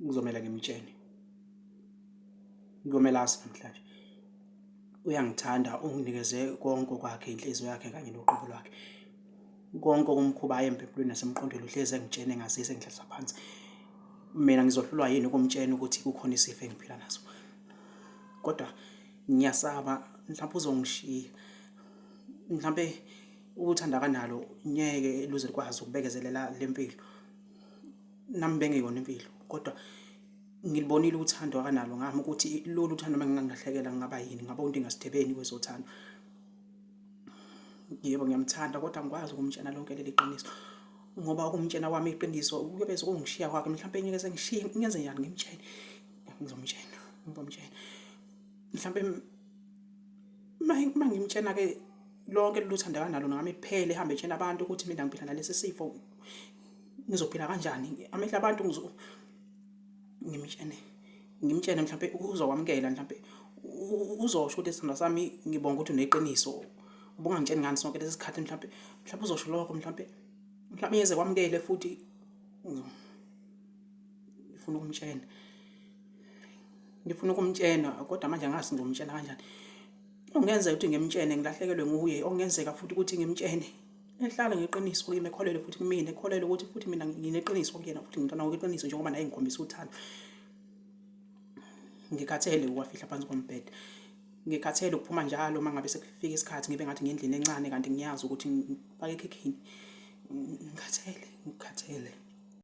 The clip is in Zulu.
ngizomela ngimtshene Komelasi namhlanje uyangithanda unginikeze konke okwakhe inhliziyo yakhe kanye noqobo lwakhe konke okumkhuba aye empempulweni nasemqondweni uhlezi engitshene ngazise ngidlalisa phansi mina ngizohlulwa yini ukumtshena ukuthi kukhona isifo engiphila naso kodwa ngiyasaba mhlawumbe uzongishiya mhlawumbe ukuthanda kanalo ngeke luze likwazi ukubekezelela lempilo nami bengeyona impilo kodwa ngilibonile uthando akanalo ngami ukuthi lolu thando uma ngingangilahlekela ngingaba yini ngaba umuntu engasithebeni kwezothando yebo ngiyamthanda kodwa ngikwazi ukumtshena lonke leli qiniso ngoba ukumtshena kwami iqiniso kuyobe sekungishiya kwakhe mhlawumbe ngeke sengishiye ngenze njani ngimtshene ngizomtshena ngizomtshena mhlawumbe uma ngimtshena-ke lonke lolu thanda kanalo nami kuphele ehambe etshena abantu ukuthi mina ngiphila nalesi sifo ngizophila kanjani amehla abantu ngimtshene ngimtshene mhlawumbe uzokwamukela mhlawumbe uzosho ukuthi sithandwa sami ngibonga ukuthi uneqiniso ubungangitsheni ngani sonke lesi sikhathi mhlawumbe mhlawumbe uzosho lokho mhlawumbe mhlawumbe yeze kwamukele futhi ngifuna ukumtshena ngifuna ukumtshena kodwa manje angazi ngomtshena kanjani ongenzeka ukuthi ngimtshene ngilahlekelwe nguye ongenzeka futhi ukuthi ngimtshene Ngihlale ngeqiniso kuye mekholelwe futhi kumina ekholelwe ukuthi futhi mina ngineqiniso kuyena futhi ngimntwana ngokweqiniso njengoba naye ngikhombisa uthando ngikhathele ukwafihla phansi kombhede ngikhathele ukuphuma njalo uma ngabe sekufika isikhathi ngibe ngathi ngendlini encane kanti ngiyazi ukuthi ngifake ekhikhini ngikhathele ngikhathele